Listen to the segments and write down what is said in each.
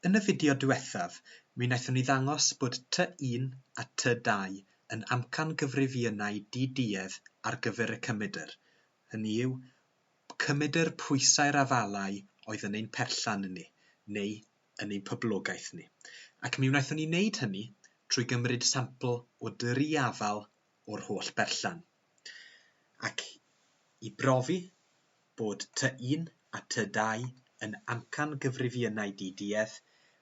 Yn y fideo diwethaf, mi wnaethon ni ddangos bod tŷ un a tŷ dau yn amcan gyfrifynnau di-duedd ar gyfer y cymydr, hynny yw, cymydr pwysau'r afalau oedd yn ein perllan ni, neu yn ein poblogaeth ni. Ac mi wnaethon ni wneud hynny trwy gymryd sampl o dri afal o'r holl berllan, ac i brofi bod tŷ un a tŷ dau yn amcan gyfrifiynau di-duedd,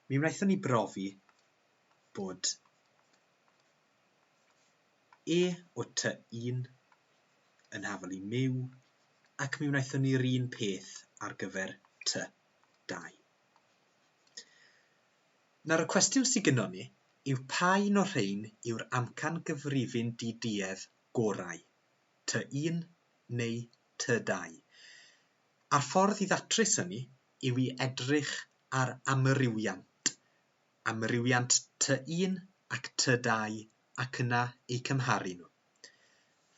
mi wnaethon ni brofi bod e o tŷ un yn hafal i Myw, ac mi wnaethon ni'r un peth ar gyfer tŷ dau. Nawr y cwestiwn sy gynnon ni yw pa un o'r rhein yw'r amcan gyfrifyn di-duedd gorau, Ty un neu Ty dau? A'r ffordd i ddatrys hynny yw i edrych ar amrywiant, amrywiant Ty un ac Ty dau ac yna eu cymharu nhw.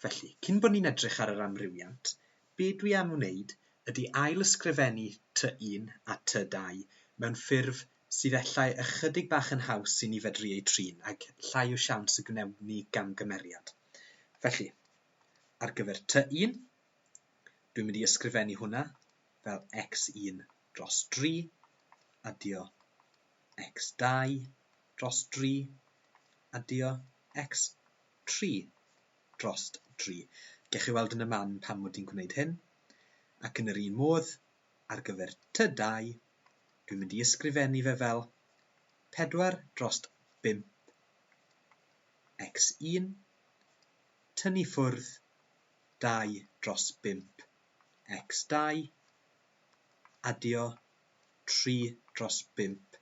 Felly, cyn bod ni'n edrych ar yr amrywiant, be dwi am wneud ydy ail-ysgrifennu Ty un a Ty dau mewn ffurf sydd efallai ychydig bach yn haws i ni fedru eu trin ag llai o siawns y gwnewm ni gamgymeriad. Felly, ar gyfer Ty un, dwi'n mynd i ysgrifennu hwnna fel x1 dros 3, adio x2, dros dri, addio x tri dros dri. Gewch chi weld yn y man pam mod i'n gwneud hyn. Ac yn yr un modd, ar gyfer ty dau, dwi'n mynd i ysgrifennu fe fel pedwar dros bump x un, tynnu ffwrdd dau dros bump x dau, addio tri dros bump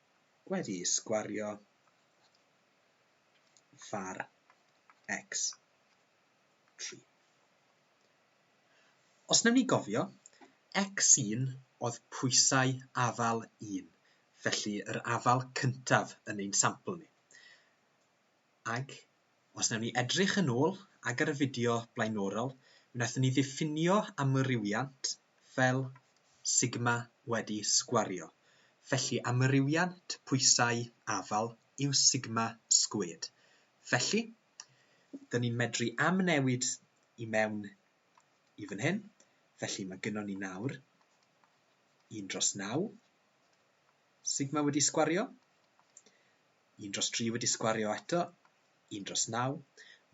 wedi sgwario far X3. Os newn ni gofio, X1 oedd pwysau afal 1, felly yr afal cyntaf yn ein sampl ni. Ac Os wnawn ni edrych yn ôl ac ar y fideo blaenorol, mi wnaethon ni ddiffinio amrywiant fel sigma wedi sgwario, felly amrywiant pwysau afal yw sigma sgwêd. Felly, dyn ni'n medru amnewid i mewn i fan hyn, felly mae gynnon ni nawr 1 dros 9 sigma wedi sgwario, Un dros dri wedi sgwario eto, un dros naw.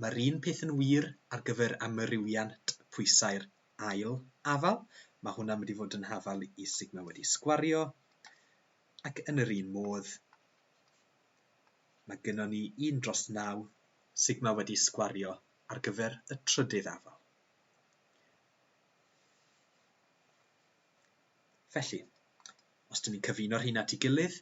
Mae'r un peth yn wir ar gyfer amrywiant pwysau'r ail afal. Mae hwnna'n mynd i fod yn hafal i sigma wedi sgwario. Ac yn yr un modd, mae gynnon ni un dros naw sigma wedi sgwario ar gyfer y trydydd afal. Felly, os dyn ni'n cyfuno'r hyn at ei gilydd,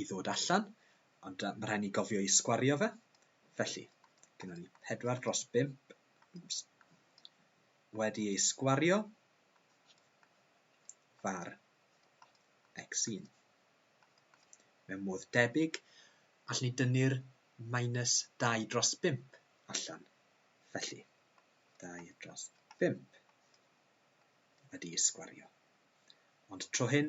i ddod allan, ond yy ma' rhai' ni gofio i sgwario fe. Felly, gynnon ni pedwar dros bump wedi ei sgwario var x1. Mewn modd debyg, allwn ni dynnu'r minus dau dros bump allan. Felly, dau dros bump wedi ei sgwario. Ond tro hyn,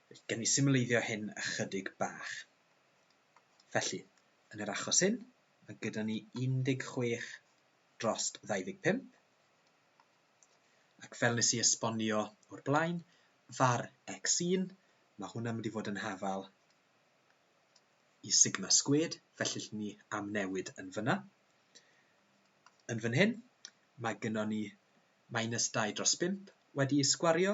Felly, gawn ni symleiddio hyn ychydig bach. Felly, yn yr achos hyn, mae gyda ni 16 dros 25, ac fel nes i esbonio o'r blaen, var x1, mae hwnna'n mynd i fod yn hafal i sigma sgwed, felly lle ni am newid yn fyna. Yn fan hyn, mae gyda ni minus 2 dros 5 wedi sgwario,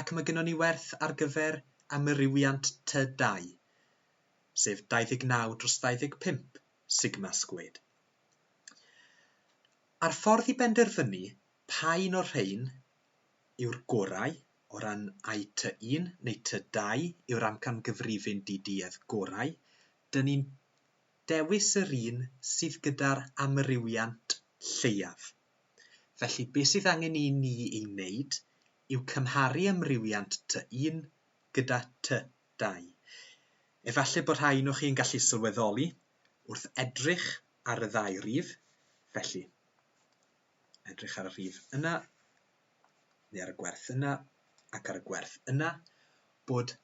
ac mae gynnon ni werth ar gyfer amrywiant tŷ dai, sef 29 dros 25 sigma sgwêd. A'r ffordd i benderfynu pa un o'r rhain yw'r gorau o ran ai tŷ un neu tŷ dau yw'r amcangyfrifyn di-duedd gorau, dyn ni'n dewis yr un sydd gyda'r amrywiant lleiaf. Felly, be' sydd angen i ni ei wneud yw cymharu amrywiant Ty 1 gyda Ty 2. Efallai bod rhai ohonoch chi yn gallu sylweddoli, wrth edrych ar y ddau rif, felly, edrych ar y rhif yna, neu ar y gwerth yna, ac ar y gwerth yna, bod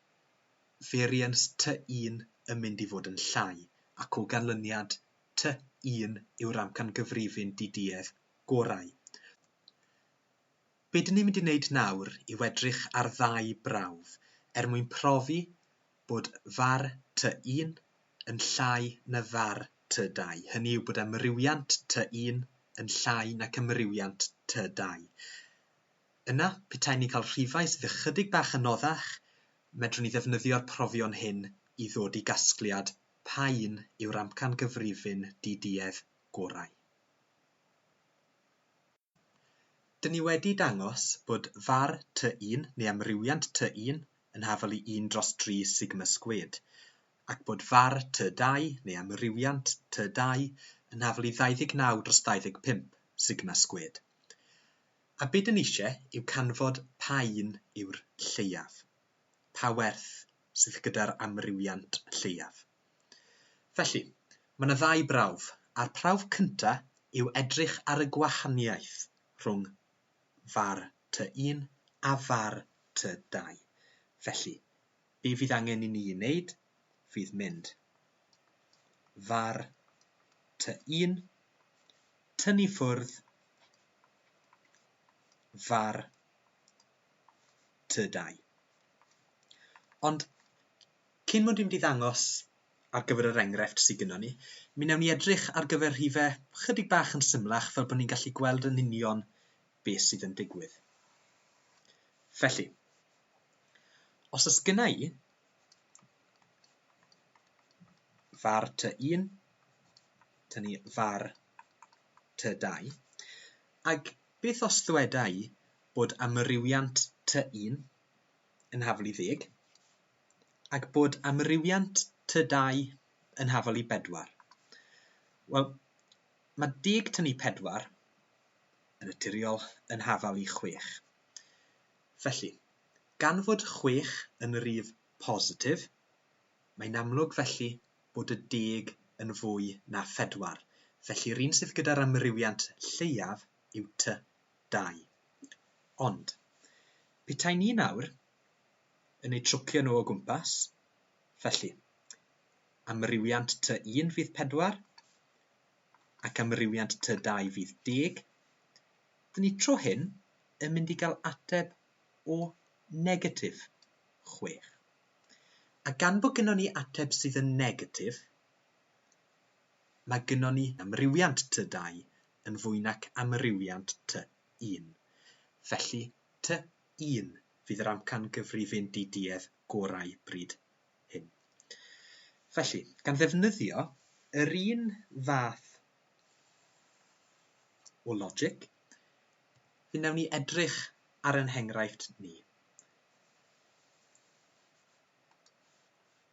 variance Ty 1 yn mynd i fod yn llai, ac o ganlyniad Ty 1 yw'r amcangyfrifyn di-duedd gorau. Be dyn ni'n mynd i wneud nawr i wedrych ar ddau brawf er mwyn profi bod var tŷ un yn llai na var tŷ dau, hynny yw bod amrywiant tŷ un yn llai nac amrywiant tŷ dau. Yna, petai ni'n cael rhifau sydd ychydig bach anoddach, medrwn ni ddefnyddio'r profion hyn i ddod i gasgliad pa un yw'r amcangyfrifyn di-duedd gorau. Dyn ni wedi dangos bod var tŷ un neu amrywiant tŷ un yn hafal i un dros dri sigma sgwêd, ac bod var tŷ dau neu amrywiant tŷ dau yn hafal i 29 dros 25 sigma sgwêd. A be dyn ni eisiau yw canfod pa un yw'r lleiaf. Pa werth sydd gyda'r amrywiant lleiaf. Felly, mae 'na ddau brawf, a'r prawf cynta' yw edrych ar y gwahaniaeth rhwng var tŷ un a var tŷ dau. Felly, be' fydd angen i ni 'i wneud fydd mynd var tŷ un, tynnu ffwrdd var tŷ dau. Ond Cyn mod i'n mynd i ddangos ar gyfer yr enghraifft sy gynnon ni, mi wnewn ni edrych ar gyfer rhife chydig bach yn symlach fel bod ni'n gallu gweld yn union be sydd yn digwydd. Felly, os ys gynna i var ty 1, tynnu var ty 2, ac beth os ddweda i bod amrywiant ty 1 yn haflu ddeg, ac bod amrywiant tŷ dai yn hafal i bedwar. Wel, mae deg tŷ pedwar yn naturiol yn hafal i chwech. Felly, gan fod chwech yn rif positif, mae'n amlwg felly bod y deg yn fwy na phedwar, felly yr un sydd gyda'r amrywiant lleiaf yw tŷ dau. Ond, petai ni nawr yn eu trwcio nhw o gwmpas, felly, amrywiant tŷ un fydd pedwar, ac amrywiant tŷ dau fydd deg, dyn ni tro hyn yn mynd i gael ateb o negatif chwech. A gan bod gynnon ni ateb sydd yn negatif, Mae gynnon ni amrywiant tŷ dau yn fwy nac amrywiant tŷ un. Felly, tŷ un fydd yr amcan gyfrifyn di-duedd gorau bryd hyn. Felly, gan ddefnyddio yr un fath o logic, fe wnawn ni edrych ar ein henghraifft ni.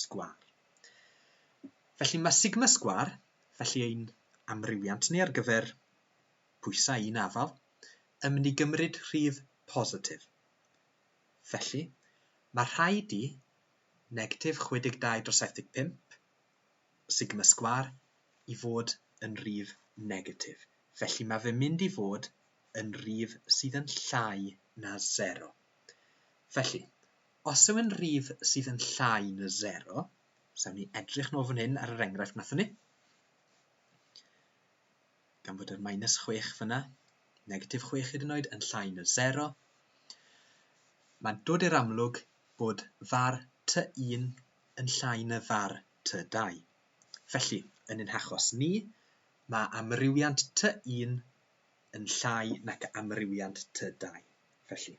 sgwâr. Felly mae sigma sgwâr, felly ein amrywiant ni ar gyfer pwysau un afal, yn mynd i gymryd rhif positif. Felly, mae rhaid i negatif 62 dros 75 sigma sgwâr i fod yn rhif negatif. Felly mae fe'n mynd i fod yn rhif sydd yn llai na 0. Felly, Os yw'n rif sydd yn llai na sero, os awn ni edrych nôl fan hyn ar yr enghraifft wnaethon ni, gan fod yr minus 6 fyna, negatif 6 hyd yn oed yn llai na sero, mae'n dod i'r amlwg bod far T1 yn llai na far T2. Felly, yn ein hachos ni, mae amrywiant T1 yn llai nac amrywiant T2. Felly,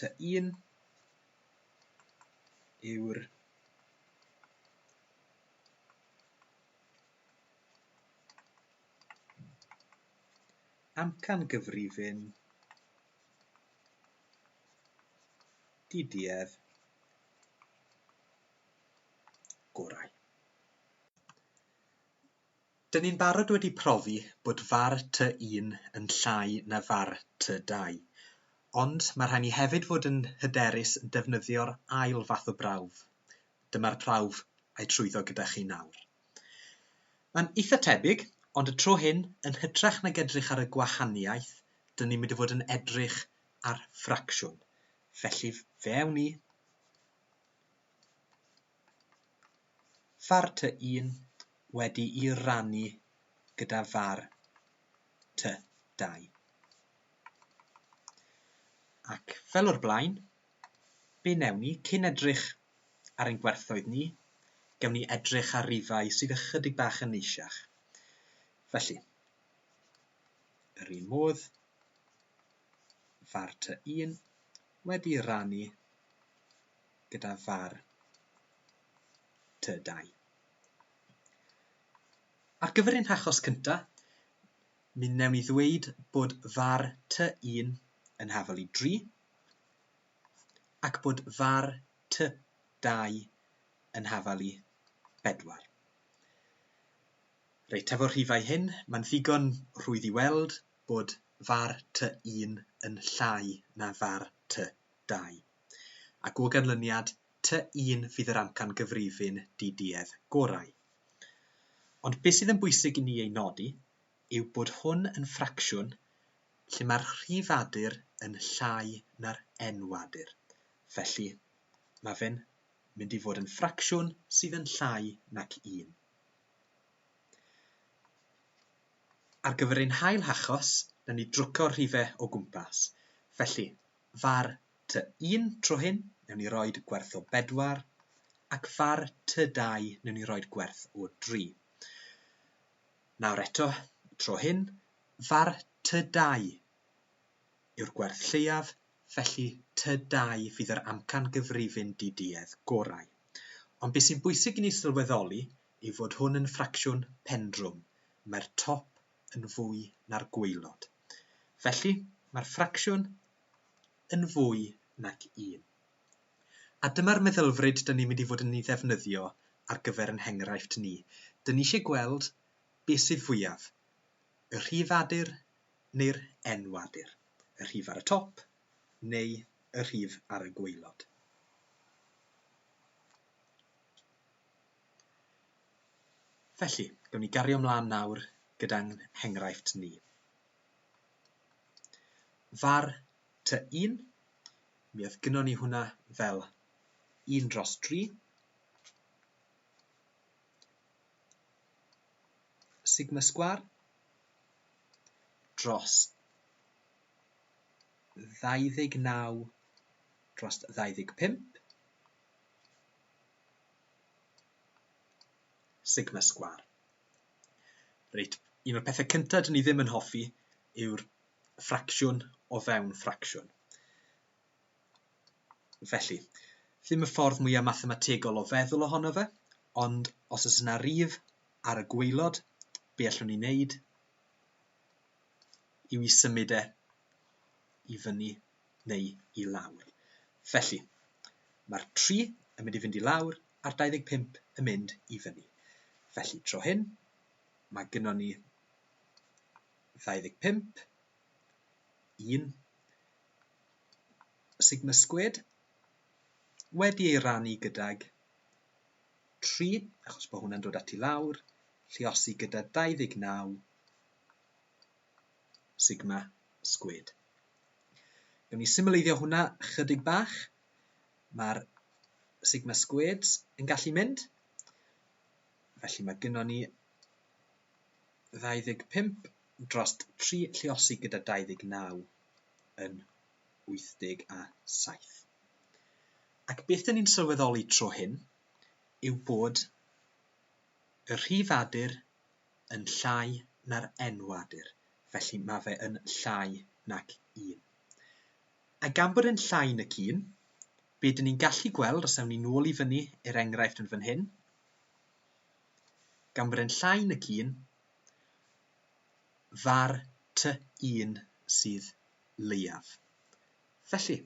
Ty un yw'r amcangyfrifon diduedd gorau. Dyn ni'n barod wedi profi bod far tŷ un yn llai na far tŷ dau, ond mae rhaid ni hefyd fod yn hyderus yn defnyddio'r ail fath o brawf. Dyma'r prawf a'i trwyddo gyda chi nawr. Mae'n eitha tebyg, ond y tro hyn, yn hytrach nag edrych ar y gwahaniaeth, dyn ni'n mynd i fod yn edrych ar ffracsiwn. Felly, fe awn ni. Far tŷ un wedi'i rannu gyda far tŷ dau. Ac fel o'r blaen, be newn ni, cyn edrych ar ein gwerthoedd ni, gewn ni edrych ar rifau sydd ychydig bach yn neisiach. Felly, yr un modd, far tŷ un wedi'i rannu gyda far tŷ dai. Ar gyfer ein hachos cynta, mi wnewn ni ddweud bod far tŷ 1 yn hafal i 3 ac bod far tŷ 2 yn hafal i 4. Reit, efo'r rhifau hyn, mae'n ddigon rhwydd i weld bod far tŷ 1 yn llai na far tŷ 2. ac o ganlyniad, tŷ un fydd yr amcan gyfrifyn di-duedd gorau. Ond beth sydd yn bwysig i ni ei nodi yw bod hwn yn ffracsiwn lle mae'r rhifadur yn llai na'r enwadur. Felly, mae fe'n mynd i fod yn ffracsiwn sydd yn llai nac un. Ar gyfer ein hail hachos, na ni drwco'r rhifau o gwmpas. Felly, Far tŷ un tro hyn newn ni roid gwerth o bedwar ac far tŷ dau newn ni roid gwerth o dri. Nawr eto, tro hyn, far tŷ dau yw'r gwerth lleiaf, felly tŷ dau fydd yr amcan gyfrifyn di-duedd gorau. Ond beth sy'n bwysig i ni sylweddoli yw fod hwn yn ffracsiwn pendrwm, mae'r top yn fwy na'r gwaelod. Felly, mae'r ffracsiwn yn fwy nag 1. A dyma'r meddylfryd dyn ni'n mynd i fod yn ei ddefnyddio ar gyfer yn henghraifft ni. Dyn ni eisiau gweld beth sydd fwyaf, y rhif adur neu'r enw adur, y rhif ar y top neu y rhif ar y gwaelod. Felly, gawn ni gario ymlaen nawr gyda'n nghenghraifft ni. Far ty un, mi oedd gyno ni hwnna fel un dros dri. Sigma sgwar dros 29 dros 25 Sigma Sgwâr. Reit, un o'r pethau cyntaf dyn ni ddim yn hoffi yw'r ffracsiwn o fewn ffracsiwn. Felly, ddim y ffordd mwyaf mathemategol o feddwl ohono fe, ond os oes yna rif ar y gweilod, be allwn ni wneud yw i symud e i fyny neu i lawr. Felly, mae'r 3 yn mynd i fynd i lawr a'r 25 yn mynd i fyny. Felly, tro hyn, mae gynnon ni 25, 1, sigma sgwed, wedi ei rannu gydag 3, achos bod hwnna'n dod at i lawr, lliosi gyda 29, Sigma Squared. Gawn ni symleiddio hwnna chydig bach. Mae'r Sigma Squared yn gallu mynd. Felly mae gynnon ni 25 dros 3 lleosi gyda 29 yn 87. Ac beth yn ni'n sylweddoli tro hyn yw bod y rhifadur yn llai na'r enwadur, felly mae fe yn llai nag un. A gan bod e'n llai nag un, be dyn ni'n gallu gweld, os awn ni nôl i fyny i'r enghraifft yn fan hyn, gan bod e'n llai nag un, fa'r ty un sydd leiaf. Felly,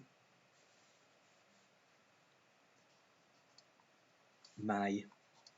mae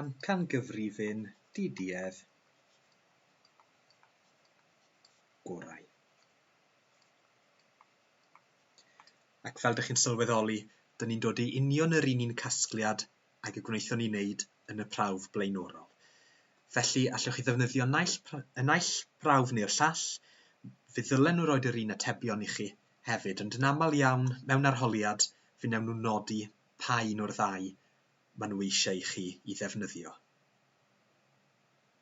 Amcangyfrifyn DDF gorau. Ac fel dych chi'n sylweddoli, dyn ni'n dod i union yr un un casgliad ag y gwnaethon ni wneud yn y prawf blaenorol. Felly, allwch chi ddefnyddio naill, y naill prawf neu'r llall, fe ddylen nhw roed yr un atebion i chi, Hefyd, ond yn aml iawn, mewn arholiad, fe wnawn nhw nodi pa un o'r ddau maen nhw eisiau i chi i ddefnyddio.